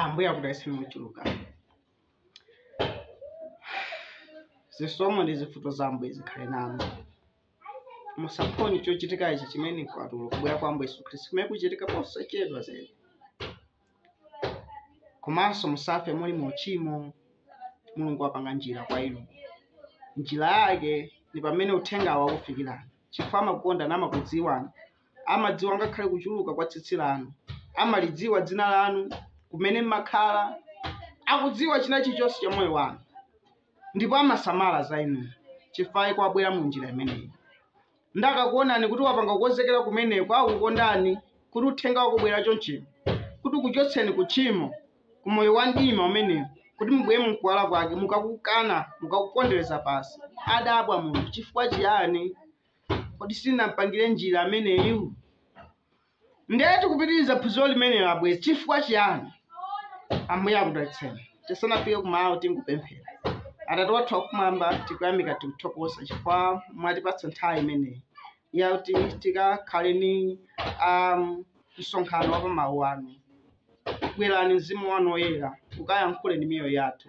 ambuye akudalitse mochuluka zisomo ndi zifundo za ambuye zikhale nanu musaphonye chochitika ichi chimene kwatulidwa kubwera kwa ambuye yesu khristu kumene kuchitike posachedwa zedi komanso musafe muli mu uchimo mulungu wapanga njira kwa inu njira yake ndi pamene uthengawo akufikirani chifukwa amakukonda namakudziwani amadziwa ngakhale kuchuluka kwa tsitsi lanu amalidziwa dzina lanu kumene mmakhala akudziwa china chilichonse cha moyo wanu ndipo amasamala za inu chifukwa chake wabwera mu njira imeneyi ndakakuonani kuti wapanga kukonzekera kumeneko, akukondani, kuti Uthenga ukubwera chonchino, kuti ukuchotseni ku tchimo, ku moyo wa mdima umenewo, kuti mubwere mu Kuwala Kwake, mukakukana, mukakupondereza pansi. Adabwa Mulungu, chifukwa chiyani? Kodi sindinampangire njira ameneyu? Ndiye tikupitiriza phunziro limenelo abwezi. Chifukwa chiyani? Ambuye akudalitseni. Tisanafike kumawu tingopemphera. Atate wathu wakumwamba, tikuyamika tikuthokoza chifukwa mwatipatsa nthawi imeneyi yakuti tikakhale ni um, msonkhano wa pa mawu anu. Bwerani mzimu wanu woyera ukayankhule ndi miyoyo yathu,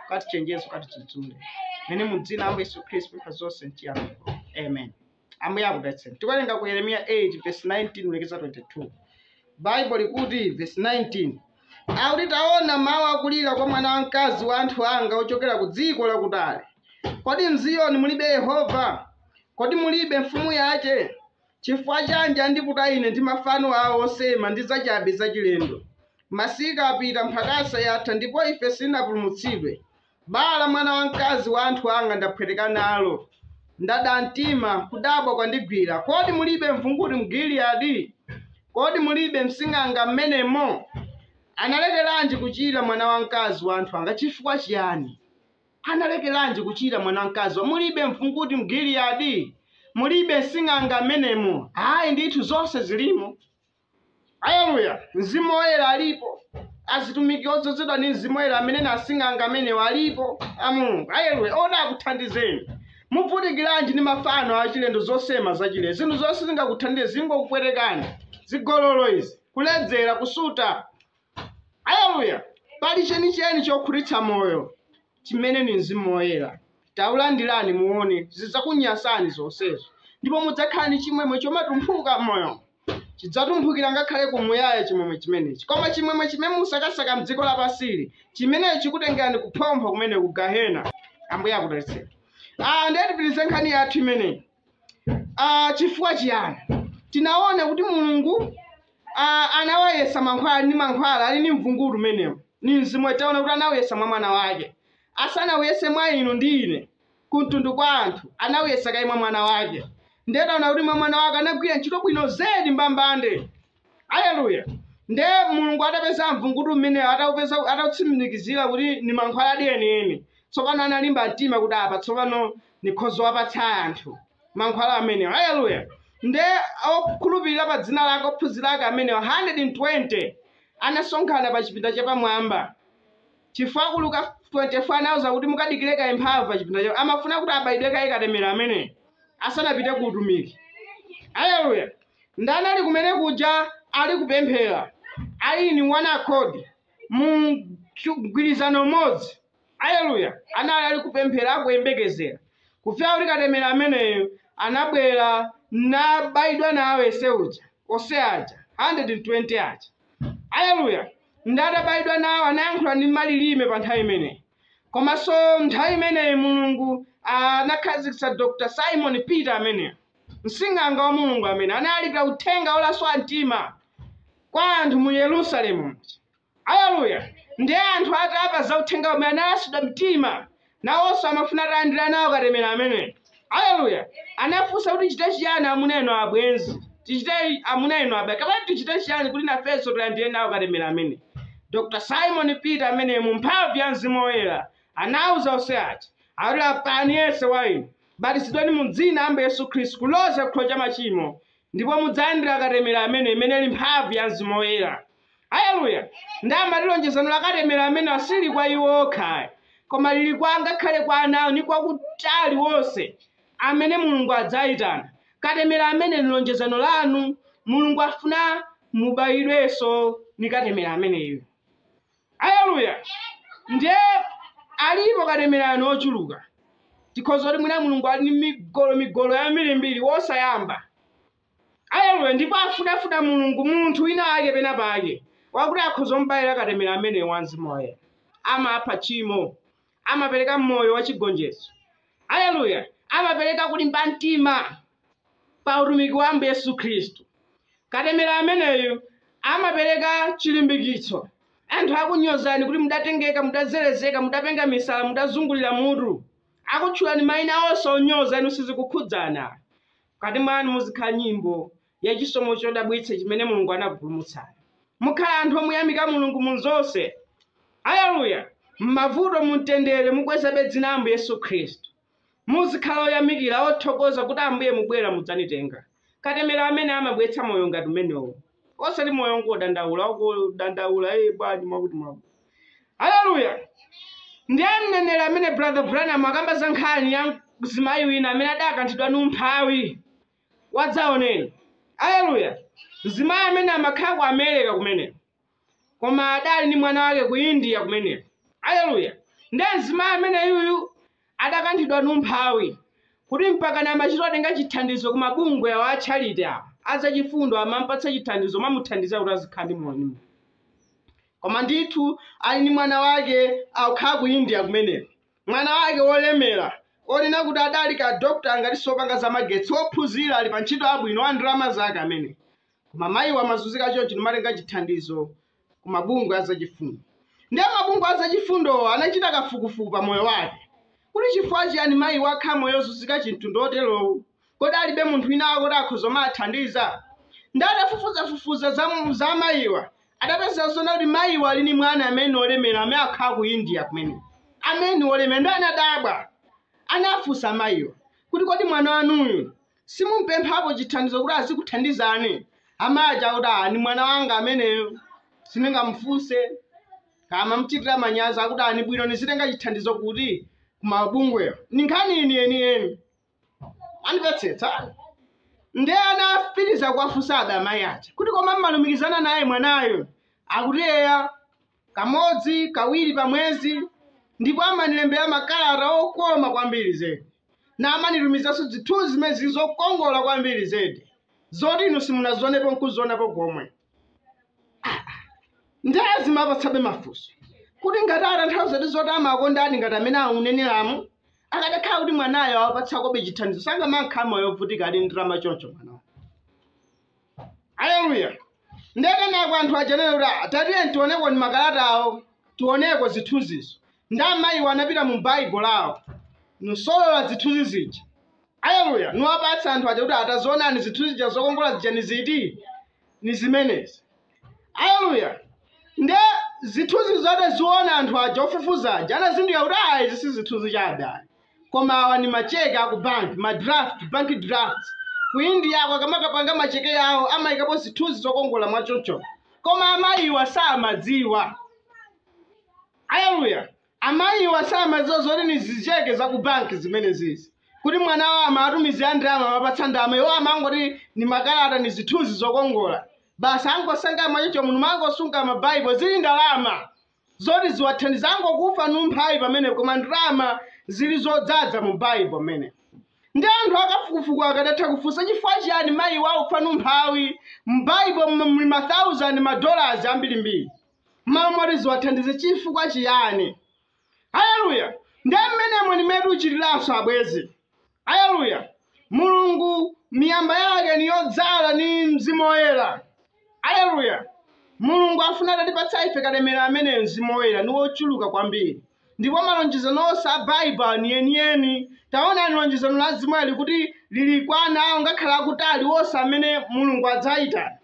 ukatichenjeze, ukatidzudzule. Mene mu dzina la Ambuye Yesu Khristu pempha zonse mchiyamiko. Amen. ambuye akudalitseni tikuwerenga ku yeremiya 8 verse 19 kulekeza 22 baibo likuti verse 19 akuti taona mawu akulira kwa mwana wamkazi wa anthu anga ochokera ku dziko lakutali kodi mziyoni mulibe yehova kodi mulibe mfumu yace chifukwa chanji andiputa ine ndi mafano awo osema ndi zachabe zachilendo masika apita mphakasa yatha ndipo ife sitinapulumutsidwe Bala mwana wamkazi wa anthu anga ndaphweteka nalo, ndada mtima, kudabwa kwandigwira, kodi mulibe mvunguti m'Gileadi? Kodi mulibe msing'anga m'menemo? Analekeranji kuchira mwana wamkazi wa anthu anga? Chifukwa chiyani? Analekeranji kuchira mwana wamkazi wa? Mulibe mvunguti m'Gileadi? Mulibe msing'anga m'menemo? Ayi ndithu, zonse zilimo. Aleluya! Mzimu Woyera alipo. Azitumiki odzozedwa ndi Mzimu Woyera amene ni asing'anga amenewo alipo a Mulungu. Aleluya! Oti akuthandizeni. Muvutikiranji ndi mafano achilendo zosema zachilendo? Zinthu zonse sizingakuthandize zingokupwetekani. Zigololo izi, kuledzera, kusuta. Aleluya! Pali chenicheni chokhutitsa moyo chimene ndi Mzimu Woyera. Taulandirani muone zidzakunyasani zonsezo ndipo mudzakhala ndi chimwemwe chomatumphuka m'moyomo. Chidzatumphukira ngakhale ku muyaya chimwemwe chimenechi. Koma chimwemwe chimene mukusakasaka m'dziko lapansili, chimenecho chikutengerani kuphompho kumene ku gahena. Ambuye akudalitseni. Ah, ndiye tipitirize nkhani yathu imeneyi. Ah, chifukwa chiyani tinaona kuti mulungu ah, anawayesa mankhwala ndi mankhwala ali ndi mvunguti umenewu ni mzimu taona kuti anawayesa mwa mwana wake asanawuyese mwa inu ndi ine kumtundu kwa anthu anawuyesa kaye mwa mwana wake ndiye taona kuti mwa mwana wake anagwira ntchito bwino zedi mbambande Aleluya! Nde Mulungu atapeza mvunguti umenewu, ataupeza, atautsimikizira kuti ni mankhwaladi enieni, tsopano analimba mtima kuti apa tsopano nikhoza kuwapatsa anthu mankhwala amenewa. Aleluya! Nde okhulupirira pa dzina lake, ophunzira ake amenewo 120 anasonkhana pa chipinda chapamwamba. Chifukwa ku Luka 24 anawauza kuti mukadikire kaye mphamvu pa chipinda chao. Amafuna kuti abayidwe kaye katemera ameneyo asanapite ku utumiki. Aleluya! Nde anali kumene kuja ali kupemphera, ali in one accord, mu chu- mgwirizano umodzi? Aleluya! Anali ali kupemphera, akuyembekezera kufika kuti katemera ameneyo anabwera nabayidwa nawo onse aja, onse aja 120 aja. aleluya nde atabayidwa nawo anayankhula ndi malilime pa nthawi imeneyi komanso nthawi imeneyi mulungu anakhazikitsa dr simon peter ameneyo msing'anga wa mulungu amene analalikira uthenga wolaswa mtima kwa anthu mu yerusalemu aleluya ndi anthu atamva za uthenga umene analasidwa mtima nawonso amafuna atalandira nawo katemera ameneyo aleluya anafunsa kuti tichite chiyani amuna inu abwenzi tichite amuna inu abale kapena tichite chiyani kuti nafenso tilandire nawo katemera amene dr simon peter amene mu mphamvu ya mzimu woyera anawuza onse aja ati lapani yense wa inu batizidwani mu dzina la ambuye yesu khristu kuloza chikhululukiro cha machimo ndipo mudzalandira katemera amene imene ili mphamvu ya mzimu woyera Aleluya! Nde amati lonjezano la katemera amene siliri kwa iwo okha ayi, koma liri kwa ngakhale kwa ana awo ndi kwa kutali wonse amene Mulungu adzaitana. Katemera amene ndi lonjezano lanu. Mulungu afuna mubaidwenso ndi katemera ameneyu. Aleluya! Ndiye alipo katemerayu ochuluka. Tikhoza kuti mwina Mulungu ali ndi migolo migolo yambiri mbiri wosayamba. Aleluya ndipo afunafuna Mulungu, munthu wina wake pena pake wakuti akhoza kumubaila katemera ameneyu wa Mzimu Woyera. Amapha tchimo. Amapereka moyo wa chigonjetso. Aleluya! Amapereka kulimba mtima pa utumiki wa Ambuye Yesu Khristu. Katemera ameneyu amapereka chilimbikitso. Anthu akunyozani kuti mudatengeka, mudazerezeka, mudapenga misala, mudazungulira mutu. Akutchulani maina onse onyoza, inu sizikukhudzani. Mkati mwanu muzikhala nyimbo ya chisomo chodabwitsa chimene Mulungu anakupulumutsani. Mukhala anthu omuyamika Mulungu mu zonse. Aleluya! M'mavuto, mu mtendere, mukwezabe dzina la Ambuye Yesu Khristu. Muzikhala oyamikira, othokoza kuti Ambuye mubwera mudzanitenga. Katemera amene amabweretsa moyo ngati umenewo. Osati moyo wongodandaula, wongodandaula, ee bwanji mwakuti mwakuti. haleluya ndiye mneneri amene brother branham akamba za nkhani ya mzimayi wina amene adakanthidwa ndi umphawi wadzaoneni haleluya mzimayi amene amakhala ku america kumeneko koma adali ndi mwana wake ku india kumeneko haleluya ndiye mzimayi amene yuyu adakanthidwa ndi umphawi kuti mpakana amachita kutenga chithandizo ku mabungwe a charity azachifundo amampatsa chithandizo namuthandiza kuti azikhala ndi moyo koma ndithu ali ndi mwana wake akukhala ku india kumeneko mwana wake wolemera onena kuti adali kaya dokta ngati si wopanga za magetsi wophunzira ali pa ntchito yabwino wa ndalama zake amene koma mayiwa amazunzika choncho n'kumatenga chithandizo ku mabungwe azachifundo ndiye mabungwe azachifundowo anachita kafukufuku pa moyo wake kuti chifukwa chiyani mayiwa akhala moyo wozunzika chimtundu choterowu Kodi alibe munthu wina wake kuti akhoza kumawathandiza? Nde atafufuzafufuza za amayiwa adapeza zonena kuti mayiwa ali ni mwana amene ni olemera amene akhala ku India kumeneko amene ni olemera nde anadabwa anafunsa amayiwa kuti kodi mwana wanuyu simumpemphapo chithandizo kuti azikuthandizani amayi aja akuti "Ah, ni mwana wanga ameneyo sindingamufunse ndimamchitira manyazi kuti ni bwino nizitenga chithandizo kuti kumabungwewo ni nkhani yeniyeni anditsetsani ndiye anapitiriza kuwafunsabe amayi aja kuti koma mmalumikizana naye mwanayo akuti eya kamodzi kawiri pa mwezi ndipo amanilembera makalata okoma kwambiri zedi na amanitumizanso zithunzi zimene zili zokongola kwambiri zedi zoti inu simunazionepo nkuzionapo komwe ndiye azimawapatsabe mafunso kuti ngati atanthauzadi zoti amakondani ngati mmene mukuneneramu akadakhala kuti mwanayo awapatsakobe chithandizo sakanamakhala moyo wovutika ali ndalama choncho mwanayo aleluya ndekenako anthu aja ananena kuti "Ah, tatiyeni tioneko ndi makalatawo tioneko zithunzizo nde amayiwo anapita mu baibulo lawo nkusolola zithunzi zija Aleluya! Niwapatsa anthu aja kuti atazionani zithunzi zija zokongola zija ni ziti? Ni zimenezi. Aleluya! Nde zithunzizo ataziona anthu aja ofufuza aja anazindikira kuti ah, izi si zithunzi chabe ayi. Koma awa ni macheke a ku bank, ma draft, bank drafts. Ku India ako akamakapanga macheke yawo amayikapo zithunzi zokongola mwachoncho. Koma amayiwa samadziwa. Aleluya! Amayiwa samadziwa zoti ni zicheke za ku banki zimenezizi, kuti mwana wawo amawatumizila ndalama, amawapatsa ndalama, iwo amangoti ni makalata ni zithunzi zokongola basi, angosunga mwachoncho munthu mangosunga ma Bible, zili ndalama zoti ziwathandiza, angokufa ni umphawi pamenepo, koma ndalama zili zodzadza mu Bible mmene. Ndiye anthu akafukufuku akadatha kufunsa chifukwa chiyani mayiwa akufa ni umphawi, mu Bible muli ma thousand ma dollars ambirimbiri. m'malo moti ziwathandize chifukwa chiyani haleluya nde mmenemo ndi mmene tuchitiranso abwezi haleluya mulungu miyamba yake niyodzala ni mzimu woyera haleluya mulungu afuna atatipatsa ife katemera ameneyo mzimu woyera ni wochuluka kwambiri ndipo malonjezano onse a baibulo ni yeniyeni taonani lonjezano la mzimu woyera kuti lili kwa ana awo ngakhale akutali onse amene mulungu adzayitana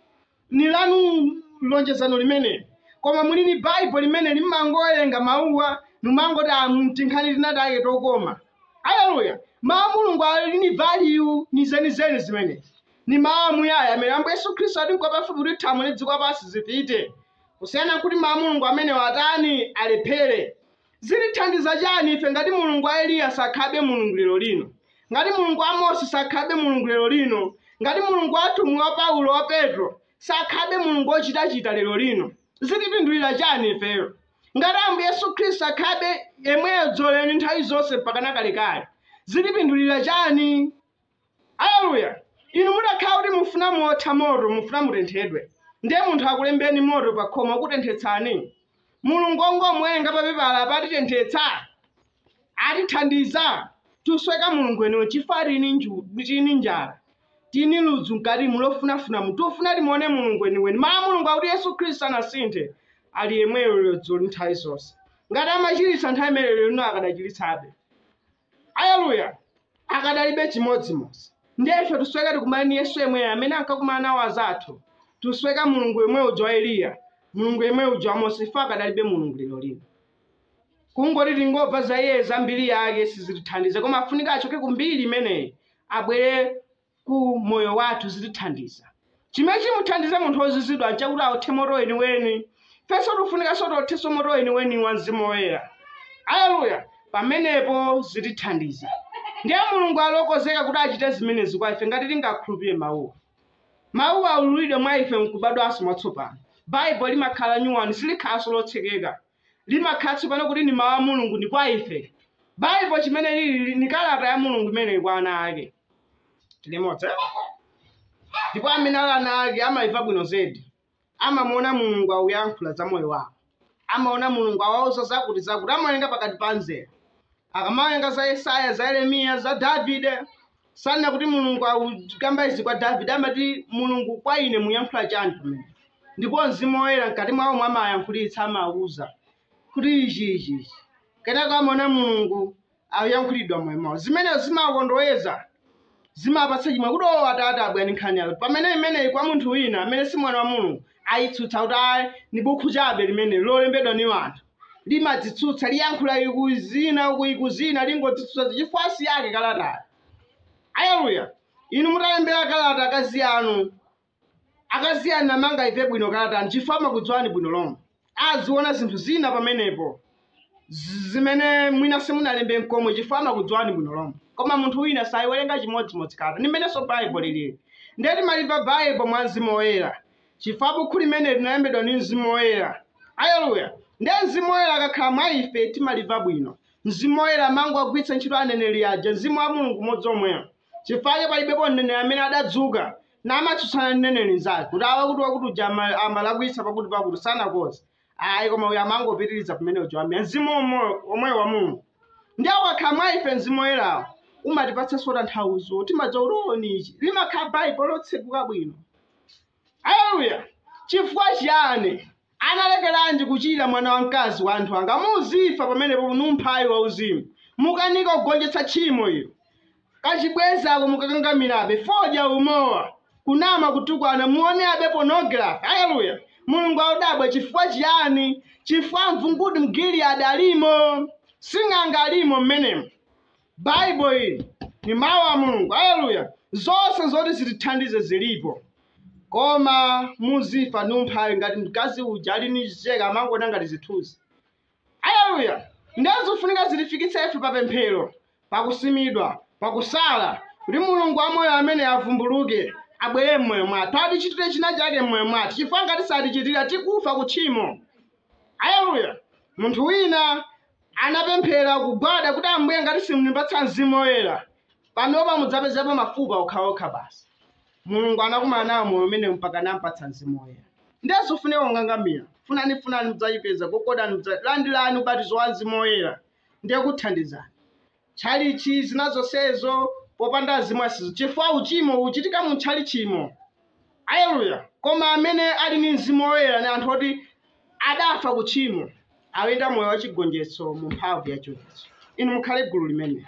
ni lanu lonjezano limeneli koma muli ni baibo limeneli mmangowerenga mawuwa numangoti a ntinkhani tinatake tokoma aleluya mawu a mulungu ali ni value ni zenizeni zimenezi ni mawu amuyaya amene ambuye yesu khristu ati nkwapafupi kuti thambo ni dziko lapansi zipite kusiyana nkuti mawu a mulungu amene watani alephere Zitithandiza chani ife ngati Mulungu wa Eliya sakhalabe Mulungu lero lino? Ngati Mulungu wa Mose sakhalabe Mulungu lero lino? Ngati Mulungu wa atumwi wa Paulo wa Petro sakhalabe Mulungu ochitachita lero lino? Zitipindulira chani ifeyo? Ngati Ambuye Yesu Khristu akhalabe yemweyo dzulo lero ndi nthawi zonse mpakana kalekale, zitipindulira chani? Aleluya! Inu mutakhala kuti mufuna muwotha moto, mufuna mutenthedwe, ndiye munthu akulembeni moto pa khoma ukutenthetsani? Mulungu ongomuwerenga pa pepala apa atitenthetsa? Atithandiza? Tusweka Mulungu weniweni chifukwa tini nju, tini njala. Tini ludzu mkatimu lofunafuna mu. Tufuna timuone Mulungu weniweni. Mawu a Mulungu akuti Yesu Khristu sanasinthe. Ali yemweyo lero dzulo ndi nthawi zonse. Ngati amachiritsa nthawi imeneyo lero lino akadachiritsabe. Aleluya! Akadalibe chimodzimodzi. Ndiye ife tusweka tikumane ni Yesu yemweyo amene ankakumana nawo azathu. Tusweka Mulungu yemwe uja wa Eliya, Mulungu yemwe uja wa Mose, ife akadalibe Mulungu lero lino. Kungoti tingomva za iye za mbiri yake sizitithandiza, koma afunika achoke ku mbiri imeneyi abwere ku moyo wathu zitithandiza. Chimene chimuthandize munthu wozizidwa nchakuti aothe moto weniweni. Ifenso tikufunikaso tiothenso moto weniweni wa Mzimu Woyera. Aleluya! Pamenepo zitithandiza. Ndiye Mulungu ali wokonzeka kuti achite zimenezi kwa ife ngati tingakhulupirire Mawuwa. Mawuwa aululidwe mwa ife nkubadwanso mwatsopano. Baibulo limakhala lanyuwani, silikhalanso lotsekeka. limakhala tsopano kuti ni mawu a mulungu ndi kwa ife baibulo chimene lili ni kalata ya mulungu imeneyi kwa ana ake tilimodzi ndipo amene ali ana ake amaimva bwino zedi amamuona mulungu auyankhula za moyo wawo amaona mulungu awauza zakuti zakuti amawerenga pakati pa nzera akamawerenga za yesaya za yeremiya za davide sanena kuti mulungu akukamba izi kwa davide amati mulungu kwa ine muyankhula chani pamenepa ndipo mzimu woyera mkati mwawo amayankhulitsa amawuza kuti ichi ichi ichi kenako amaona mulungu akuyankhulira m'moyo mwawo zimenezo zimakondoweza zimapatsa chimwemwe kuti owo atate abwani nkhani yawo pamene imeneyi kwa munthu wina amene si mwana wa mulungu ayitsutsa kuti ayi ni bukhu chabe limeneli lolembedwa ni anthu limadzitsutsa liyankhula iku zina uku iku zina lingodzitsutsa chifukwa si yake kalatayo aleluya inu mutalembera kalata akazi anu akazi anu angaimve bwino kalatayi chifukwa amakudziwani bwino lomwe aziona zinthu zina pamenepo z- zimene mwina simunalembe nkomwe chifukwa amakudziwani bwino lomwe koma munthu wina sayiwerenga chimodzimodzi kalata ndi mmenenso baibulo lilili ndiye timalimva baibulo mwa mzimu woyera chifukwa bukhu limeneli linalembedwa ndi mzimu woyera aleluya ndiye mzimu woyera akakhala mwa ife timalimva bwino mzimu woyera amangowagwiritsa ntchito aneneri aja mzimu wa mulungu m'modzi omweyo chifukwa che palibepo mneneri amene adadzuka namatsutsana ndi mneneri mnzake kuti awa kuti wakuti uja ama- amalakwitsa pakuti pakuti sanakoze ayi koma uyo amangopitiriza pamene uja waimira mzimu omwe- omweyo wa mulungu ndiye ukakhala mwa ife mzimu woyerawo umatipatsanso tanthauzo timadziwa kuti o ni ichi limakhala baibulo lotseguka bwino Aleluya! Chifukwa chiyani? Analekeranji kuchira mwana wamkazi wa anthu anga? Muzifa pamenepo nu umphawi wauzimu. Mukanika kugonjetsa tchimo ilo. Kachibwenzi ako mukakangamirabe, fodya, umowa, kunama, kutukwana, muoneabe pornography. Aleluya! Mulungu akudabwa chifukwa chiyani? Chifukwa mvunguti m'Giliyadi alimo, sing'anga alimo mmenemo. baibulo ili ni mawu a mulungu aleluya zonse zoti zitithandize zilipo koma muzifa ni umphawi ngati mkazi uja ali ni cheke amangoona ngati zithunzi aleluya ndiye zofunika zitifikitse ife pa pemphero pakusimidwa pakusala kuti mulungu wamoyo amene avumbuluke abwere m'moyo mwathu atichitire china chake m'moyo mwathu chifukwa ngati satichitira tikufa ku tchimo aleluya munthu wina Anapemphera, kugwada, kuti, Ambuye, ngati simundipatsa Mzimu Woyera, panopa mudzapezapo mafupa okhaokha basi. Mulungu anakumana nawo moyo umenewu mpaka anampatsa Mzimu Woyera. Ndiye zofunika kungangamira. Funani, funani, mudzayipeza. Gogodani. Landirani ubatizo wa Mzimu Woyera. Ndiye kuthandizani. tchalitchi, zina zonsezo, popanda Mzimu asezo, chifukwa uchimo uchitika mu tchalitchimo. Aleluya! Koma amene ali ndi Mzimu Woyera ni anthu oti adafa ku tchimo, akuyenda moyo wachigonjetso mu mphamvu ya chiukitso. Inu mukhale gulu limenelo.